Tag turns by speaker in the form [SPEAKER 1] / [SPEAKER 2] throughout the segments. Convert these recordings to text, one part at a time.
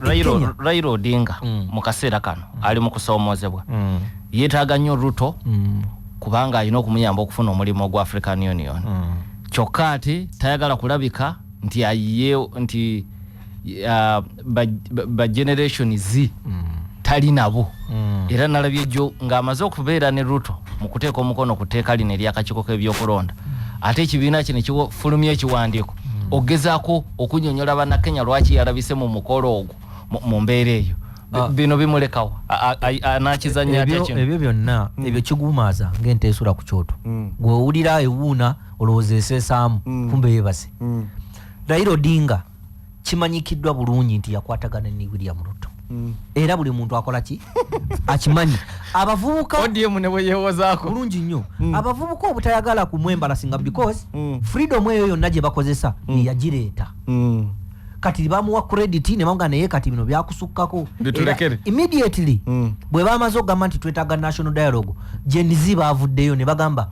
[SPEAKER 1] raila odinga mm. mu kaseera kano mm. ali mu kusoomoozebwa mm. yeetaaga nnyo ruto kubanga alina okumuyamba okufuna omulimu ogwa african union kyokka ati tayagala kulabika nti ayiye nti uh, ba generation z tali nabo era nalabye jjo ng'amaze okubeera ne ruto mu kuteeka omukono ku tteeka lino eryakakiiko k'ebyokulonda ate ekibiina kino kifulumya ekiwandiiko hmm. ogezako okunyonyola bana Kenya lwaki yalabise mu mukolo ogwo mu mbeera eyo ah. bino bimulekawo anakizanya atya kino ebyo byonna hmm. ebyo
[SPEAKER 2] kigumaza ng'ente esula ku kyoto hmm. gwe owulira ewuuna olowooza eseesaamu kumbe yebase Raila Odinga kimanyikiddwa bulungi nti yakwatagana ne William Ruto mm. era buli muntu akola ki akimanyi abavubuka ODM ne bwe
[SPEAKER 1] yewozaako bulungi nnyo mm.
[SPEAKER 2] abavubuka obutayagala kumwembala singa because mm. freedom eyo yonna gye bakozesa mm. yagireeta mm. kati bamuwa credit ne banga naye kati bino byakusukkako bitulekere immediately mm. bwe bamaze okugamba nti twetaaga national dialogue Gen Z baavuddeyo ne bagamba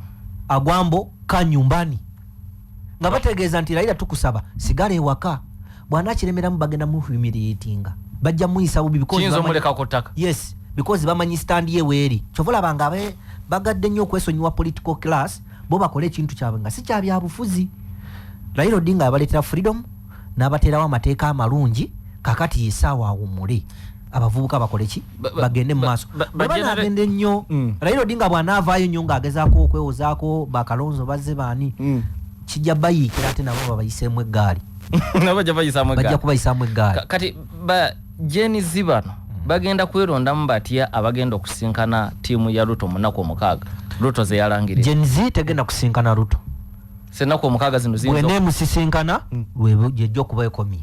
[SPEAKER 2] agwambo ka nyumbani nga bategeeza nti layira tukusaba sigala ewaka bwanakiremeramu bagenda muhumiliatinga bajja muyisa bubi yes because bamanyi stand ye weeri kyova olabanga abe bagadde nnyo okwesonyiwa political class bo bakole ekintu kyabwe nga sikyabyabufuzi layira odinga abaletera freedom n'abateerawo amateeka amalungi kakati yesaawa awumule abavubuka bakole ki bagende mumaaso bwebanagende nnyo mm. raila odinga bwanaavaayo nnyo ng'agezaako okwewozaako bakalonzo bazze baani mm. kijja bayiikira ate nabo babayiseemu eggaali bajja kubayisaamu eggaali kati ba
[SPEAKER 1] jeni zibano bagenda kwerondamu batya abagenda okusinkana tiimu ya ruto munaku omukaaga ruto zeyalangiria jeni zi tegenda
[SPEAKER 2] kusinkana ruto senaku omukaaga
[SPEAKER 1] zino ziyinza bwena emusisinkana hmm.
[SPEAKER 2] lwejja okuba ekomye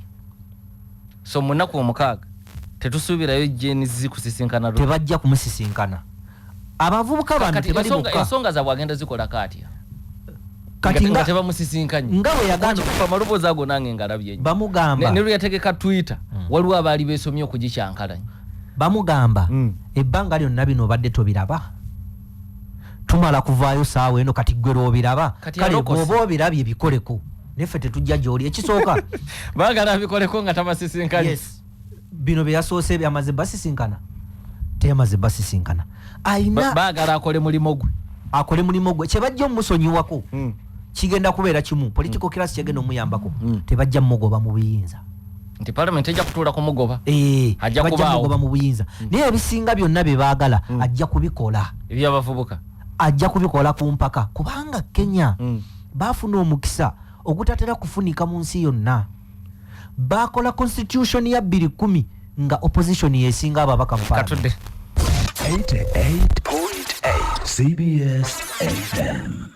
[SPEAKER 1] so munaku omukaaga tetusuubirayo jeni zikusisinkana tebajja kumusisinkana
[SPEAKER 2] abavubuka bano tebali bokka ensonga zabwe agenda zikola
[SPEAKER 1] kaatya kati
[SPEAKER 2] nga tebamusisinkanye nga bwe
[SPEAKER 1] yagamba okufa
[SPEAKER 2] maloboozi ago nange
[SPEAKER 1] ngalabye nnyo bamugamba ne luyategeka
[SPEAKER 2] twitter
[SPEAKER 1] hmm. waliwo abaali beesomye okugikyankalanya bamugamba
[SPEAKER 2] hmm. ebbanga lyonna bino obadde tobiraba tumala kuvaayo saawa eno kati gwe lwobiraba kale bwoba obirabye bikoleko neffe tetujja gyoli ekisooka bagala
[SPEAKER 1] bikoleko nga tabasisinkana yes.
[SPEAKER 2] bino byeyasoose byamaze basisinkana teyamaze basisinkana ayina bagala akole mulimu
[SPEAKER 1] gwe akole mulimu gwe kyebajja omusonyiwako mm. kigenda kubeera kimu political mm. class kyegenda omuyambako mm. tebajja mugoba mu buyinza nti parliament ejja kutuula kumugoba eh, ajja kubaawo
[SPEAKER 2] mu buyinza mm. naye ebisinga byonna bye baagala mm. ajja kubikola ebyabavubuka
[SPEAKER 1] ajja kubikola
[SPEAKER 2] ku mpaka kubanga kenya mm. baafuna omukisa ogutatera kufunika mu nsi yonna baakola constitution ya bbiri kumi nga opposition yesinga ababaka mu katudde
[SPEAKER 1] 88.8
[SPEAKER 3] cbs fm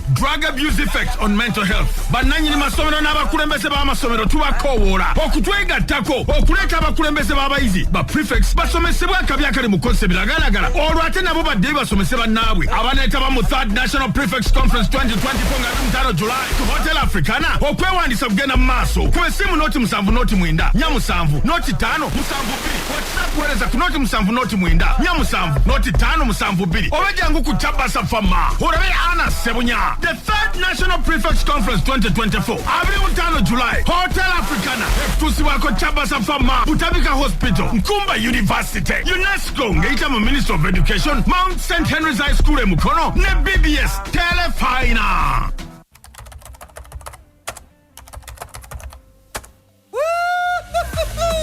[SPEAKER 4] drug abuse effects on mental health bannanyini masomero n'abakulembeze b'amasomero tubakowoola okutwegattako okuleeta abakulembeze b'abayizi ba prefects basomesebwe akabi akali mu kukozesa ebiragalagala olwo ate nabo baddeyo basomese bannaabwe abaneetaba mu third national prefects conference 2024 nga ali mutano july ku hotel africana okwewandiisa kugenda mu maaso ku esimu noti musanvu noti mwenda nya musanvu noti ttaano musanvu bbiri whatsapp wereza ku noti musanvu noti mwenda nya musanvu noti tano musanvu bbiri oba jangu ku kyabasa fama orabe ana sebunya the third national prefects conference 2024 abiri mutano july hotel africana ekutuusibwako kyabasa fama butabika hospital nkumba university unesco ngeyita mu minister of education mount st henry's high school e mukono ne bbs telefina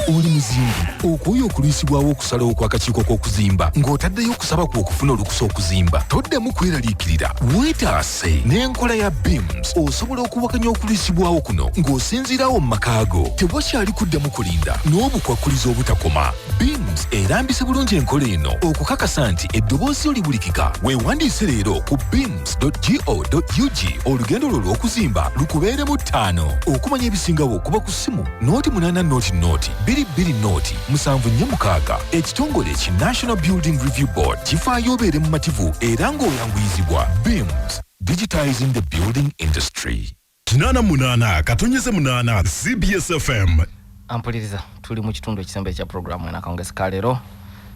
[SPEAKER 3] oli muzimbi okwoye okulwisibwawo okusalawo kw'akakiiko k'okuzimba ng'otaddeyo okusaba kwe okufuna olukusa okuzimba toddemu kweraliikirira weetaase n'enkola ya beams osobola okuwakanya okulwisibwawo kuno ng'osinziirawo mu maka go tewakyali kuddamu kulinda n'obukwakkulizo obutakoma beams erambise bulungi enkola eno okukakasa nti eddoboozi yo libulikika weewandiise leero ku beams www.go.ug olugendo lwo lw'okuzimba lukubeeremu ttaano okumanya ebisingawo okuba ku ssimu nooti munaana nooti nooti bbiri bbiri nooti musanvu nnya mukaaga ekitongole ki national building review board kifaayo obeere mumativu era ng'oyanguyizibwa beams digitizing the building industry kinana munana katonyeze
[SPEAKER 4] munana cbs fm ampuliriza
[SPEAKER 1] tuli mu kitundu ekisembe ekya pulogulaamu enakawungezi ka leero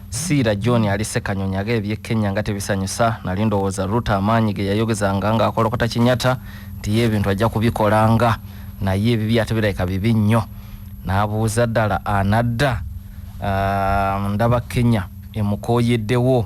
[SPEAKER 1] siira john ali sekanyonyi aga ebye kenya nga tebisanyusa nali ndowooza ruta amaanyi ge yayogezanga ng'akolokota kinyata nti ye ebintu ajja kubikolanga naye ebibi ate birabika bibi nnyo n'abuuza ddala anadda uh, ndaba kenya emukooyeddewo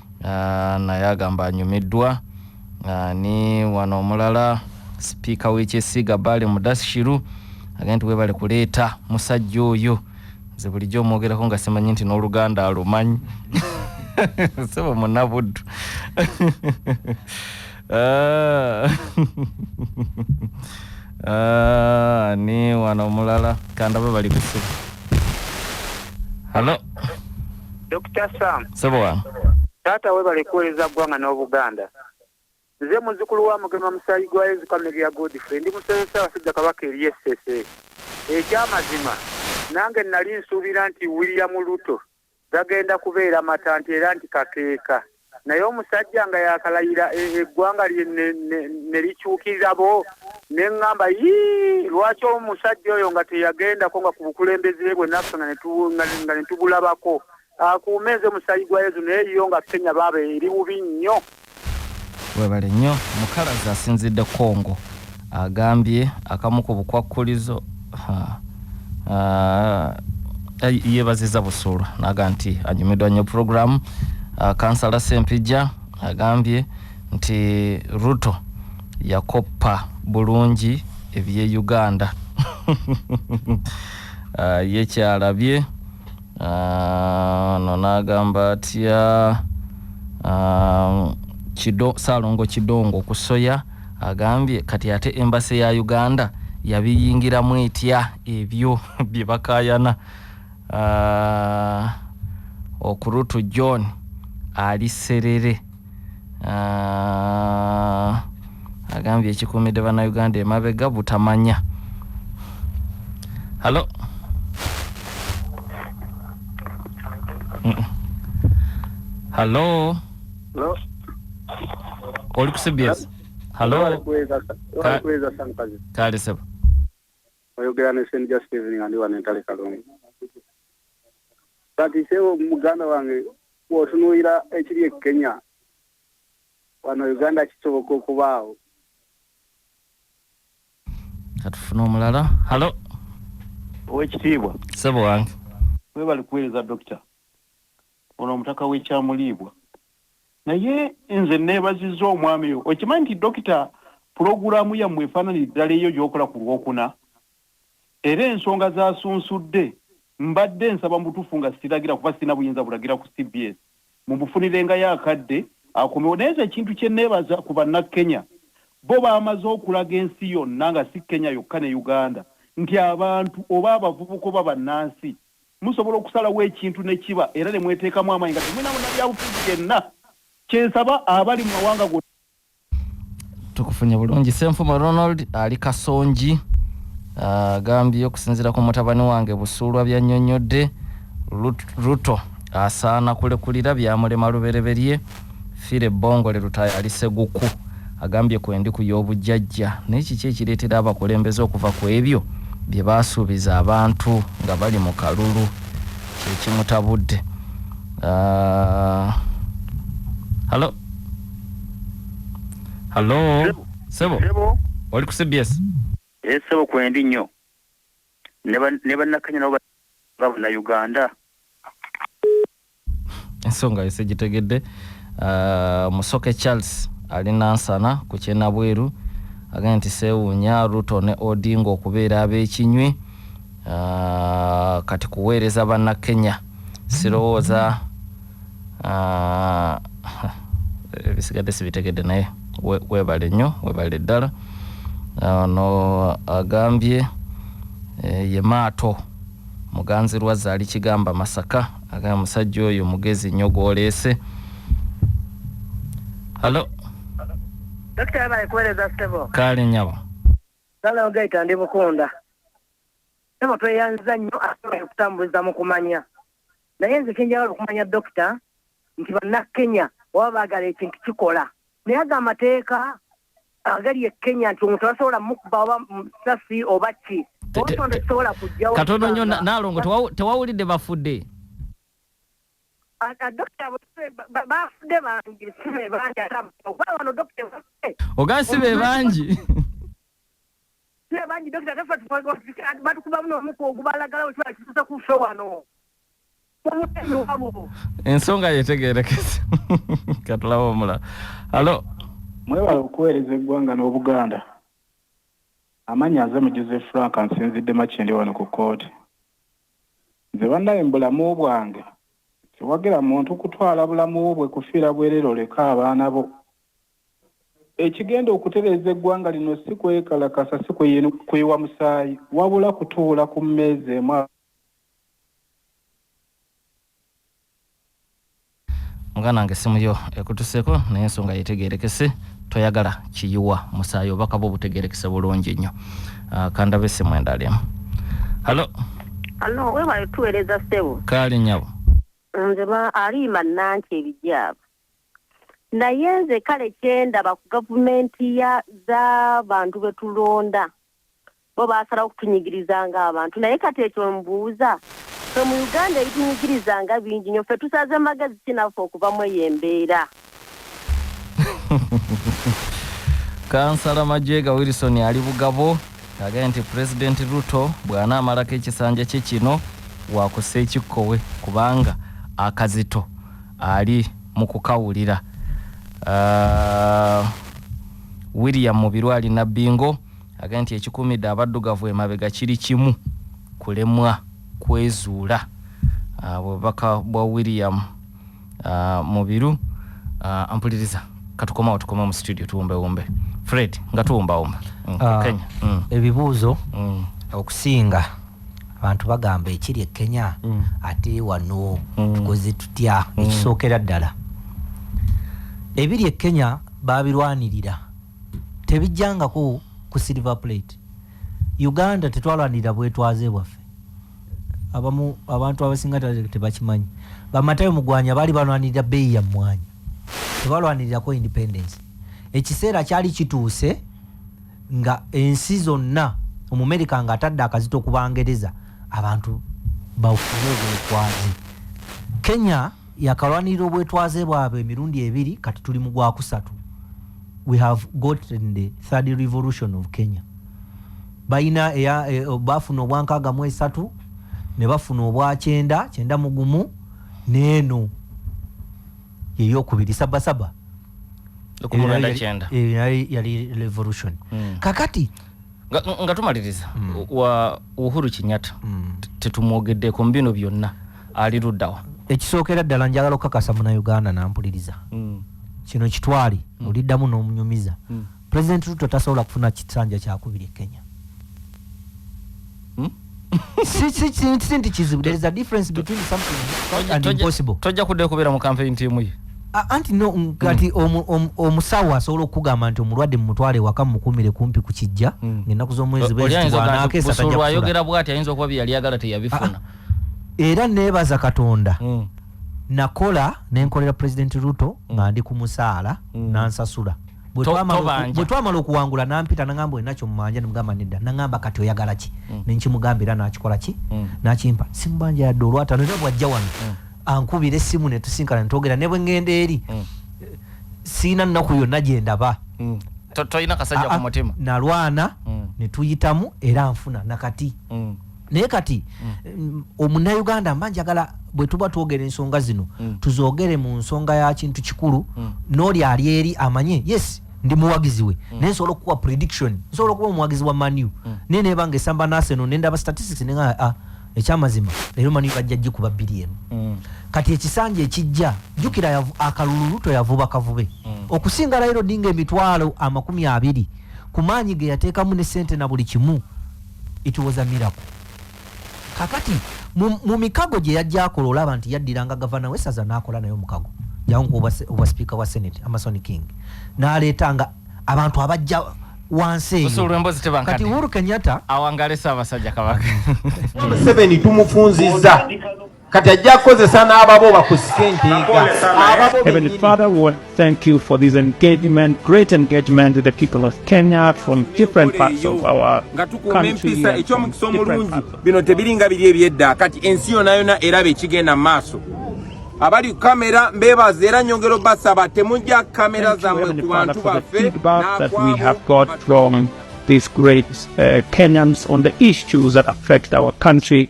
[SPEAKER 1] Ah, naye agamba anyumiddwa Ah, ni wano omulala sipiika w'ekyesiiga baale mudashiru agenda nti webale kuleeta musajja oyo nze bulijjo omwogerako nga simanyi nti n'oluganda alumanyi sebo munabuddu Ah. Ah, ni wano omulala kandaba bali kusibu halo dr
[SPEAKER 5] sam sebo wange
[SPEAKER 1] taata webale
[SPEAKER 5] kuweereza ggwanga n'obuganda nze muzukulu wa mugema musaayi gwa yezu kameria godfrey ndi musebe ssaabasajja kabaka eri essese ekyamazima nange nali nsuubira nti william luto gagenda kubeera matanti era nti kakeeka naye omusajja nga yakalayira e, eggwanga lye ne likyukirira bo ne ŋŋamba yii lwaki omusajja oyo nga teyagendako nga ku bukulembeze bwe naffe nga ne tubulabako akuume nze musayi gwa yezu naye yo nga kenya baaba eri bubi nnyo
[SPEAKER 1] Webale nnyo mukalazi asinzidde Congo agambye akamu ku bukwakkulizo yebaziza busuulu naga nti anyumidwa nnyo puroguramu. Kansala Sempijja agambye nti Ruto yakoppa bulungi ebye Uganda yekyalabye Ah, no n'agamba atya ah, kido saalongo kidongo ku soya agambye kati ate embase ya uganda yabiyingiramu etya ebyo bye bakayana ah, okurutu john ali serere Ah, agambye ekikuumidde bannayuganda emabega butamanya halo halo oli ku cbs halo kale sebo oyogera ne st just
[SPEAKER 5] evening andi wano entale kalungu kati sebo muganda wange wotunuira ekiri e kenya wano uganda kisoboka okubaawo
[SPEAKER 1] katufuna omulala halo
[SPEAKER 6] owekitiibwa sebo wange
[SPEAKER 1] webali kuweereza
[SPEAKER 6] dokita ono omutaka wekyamuliibwa naye nze nebaziza omwami okimanyi nti dokita pulogulaamu yammwe efaananira ddala eyo gyokola ku lwokuna era ensonga z'asunsudde mbadde nsaba mu butuufu nga siragira kuba sirina buyinza bulagira ku cbs mumufunirengayo akadde akomewo naye nze ekintu kye nneebaza ku Bannakenya bo baamaze okulaga ensi yonna nga si Kenya yokka ne Uganda nti abantu oba abavubuka oba bannansi musobola okusalawo ekintu ne kiba era ne mweteekamu amaanyi nga temulina munnabyabufuzi yenna. Kye nsaba abali mu mawanga gonna.
[SPEAKER 1] tukufunye bulungi senfuma ronald ali kasongi ah, agambye okusinzira ku mutabani wange busuulwa byanyonyodde ruto asaana kulekulira byamulema lubereberye fire bongole lutayo ali seguku agambye kwendi ku y'obujjajja naye kiki ekireetera abakulembeze okuva ku ebyo bye baasuubiza abantu nga bali mu kalulu kyekimutabudde uh, ah, halo Hello. Sebo. Sebo. Sebo. Oli ku CBS. Eh, sebo
[SPEAKER 5] kwendi nnyo. Ne bannakanya nabo babuna Uganda.
[SPEAKER 1] Ensonga yose gitegedde. Uh, Musoke Charles ali Nansana ku Kyenabweru agambye nti seewuunya Ruto ne Odinga okubeera ab'ekinywi uh, kati kuweereza bannakenya sirowooza Ah, ebisigadde sibitegedde naye webale nnyo webale ddala ono agambye eh, ye maato muganzi lwazza ali kigamba masaka agambye musajja oyo mugezi nnyo gwoleese halo
[SPEAKER 7] kaale nyabo
[SPEAKER 1] kale
[SPEAKER 7] ogaita ndi bukunda sebo tweyanziza nnyo asobola okutambuliza mu kumanya Naye nze kyenjagala okumanya dokita nti bannakenya oba baagala ekintu kikola naye ago amateeka agali e kenya nti omuntu abasobola mukuba oba musasi oba ki obutondo kisobola kujjawo
[SPEAKER 1] katono nnyo naalongo tewawulidde bafudde
[SPEAKER 7] ogansi be
[SPEAKER 1] bangi
[SPEAKER 7] Naye bangi dokita tafa batukubamu n'omuko ogubalagala wekibala kituusa ku ffe wano
[SPEAKER 1] ensonga yetegerekese katulaba omulala alo mwebala
[SPEAKER 6] okuweereza eggwanga n'obuganda amanyi aze mu joseph frank nsinzidde makindi wano ku kooti nze bannaye mu bulamu bwange siwagira muntu kutwala bulamu bwe kufiira bwerere oleka abaana bo Ekigenda okutereeza eggwanga lino si kwekalakasa, si kuyiwa musaayi wabula kutuula ku mmeeza emu.
[SPEAKER 1] Muganda wange essimu yo ekutuseko naye ensonga yetegerekese toyagala kiyiwa musaayi obaka bwo butegerekese bulungi nnyo ah, kandabe essimu endala emu halo halo
[SPEAKER 8] webale tuweereza ssebo kaali nyabo
[SPEAKER 1] nze
[SPEAKER 8] aliima nanki ebijaaba naye nze kale kyendaba ku gavumenti ya zabantu betulonda bo basalawo okutunyigiriza nga abantu naye kati ekyo mbuuza fe mu uganda ebitunyigiriza nga bingi nyo fe tusaze magezi kinaffe okuva mu eyo embeera
[SPEAKER 1] kansala majega wilson ali bugabo agambye nti pulezidenti ruto bwanaamalako ekisanja kye kino wakussa ekikkowe kubanga akazito ali mukukawulira uh, William Mubiru ali Nabbingo agambye nti ekikumidde abaddugavu emabega kiri kimu kulemwa kwezuula ah, bubaka bwa William ah, Mubiru ah, mpuliriza katukomawo tukoma mu studio tuwumbewumbe Fred nga tuwumbawumba mm, Kenya mm. ebibuuzo
[SPEAKER 2] mm. okusinga abantu bagamba ekiri e kenya mm. ate wano mm. tukoze tutya mm. ekisookera ddala ebiri e kenya babirwanirira tebijjangako ku silver plate uganda tetwalwanirira bwetwaze bwaffe abamu abantu abasinga tebakimanyi bamatayo mugwanya baali balwanirira beeyi ya mmwanyi tebalwanirirako independence ekiseera kyali kituuse nga ensi zonna omumerika nga atadde akazito ku bangereza abantu bafune obwetwaze kenya yakalwanirira obwetwaze bwabwe emirundi ebiri kati tuli mu gwakusatu we have gotten the third revolution of kenya balina e, bafuna obwankaaga mu esatu ne bafuna obwa kyenda kyenda mugumu neeno yeyokubiri sabasaba naye yali revolution mm. kakati nga, nga
[SPEAKER 1] tumaliriza mm. wa uhuru kinyata mm. tetumwogeddeko mu bino byonna ali luddawa ekisookera ddala
[SPEAKER 2] njagala okukakasa munauganda nampuliriza mm. kino kitwali mm. oliddamu n'omunyumiza mm. President Ruto tasobola kufuna kisanja kyakubiri e Kenya. Hmm? si, si, si, si nti kizibu. There is a difference between something difficult and impossible. Tojja kudde kubeera mu campaign
[SPEAKER 1] team ye. Anti no hmm.
[SPEAKER 2] kati omusawo asobola okugamba nti omulwadde mumutwale waka mukumire kumpi ku kijja hmm. ng'ennaku z'omwezi bwezitibwanakeesa tajja
[SPEAKER 1] kufuna. Ayogera bwati ayinza okuba bye yali agala teyabifuna. Ah, ah. Era
[SPEAKER 2] neebaza Katonda. Mm. nakola nenkolera president ruto mm. nga ndi ku musaala mm. nansasula bwe twamala okuwangula nampita nagamba olina kyomumanja nemugamba nedda nagamba kati oyagala ki mm. nenkimugamba era nakikola ki mm. nakimpa simubanja yadde olwatano era bwajja wano mm. ankubira essimu netusinkana netwogera ne bwe ngenda eri siina nnaku yonna gye ndaba tolina
[SPEAKER 1] kasajja ku mutima nalwana
[SPEAKER 2] netuyitamu era nfuna nakati naye kati mm. omunauganda mba njagala bwe tuba twogera ensonga zino mm. tuzoogere mu nsonga ya kintu kikulu mm. n'oli ali eri amanye yes ndi muwagizi we mm. naye nsobola okukuwa prediction nsobola okuba omuwagizi wa manu mm. naye naye banga esamba naseno nendaba statistics nenga ah, ekyamazima leero manu bajja gikuba bbiri emu mm. kati ekisanja ekijja jjukira akalululu toyavuba kavube mm. okusinga layiro dinga emitwalo amakumi abiri ku maanyi ge yateekamu ne sente na buli kimu It was a miracle. Kakati mu mikago gye yajja akola olaba nti yaddiranga gavana w'essaza n'akola naye omukago jangu oba sipiika wa senate Amason King n'aleetanga abantu abajja wansi eyo kati Uhuru Kenyatta awangale Ssaabasajja
[SPEAKER 1] Kabaka Museveni
[SPEAKER 9] tumufunzizza kati ajja kukozesa n'ababo bakusike enteega Heavenly
[SPEAKER 10] Father, we want to thank you for this engagement, great engagement with the people of Kenya from different parts of our country. eky'omukisa omulungi
[SPEAKER 9] bino tebiringa biri ebyedda kati ensi yona yona eraba ekigenda mu maaso abali kamera mbebaza era nyongera obasaba temujja kamera zammwe ku
[SPEAKER 10] bantu baffe These great uh, Kenyans on the issues that affect our country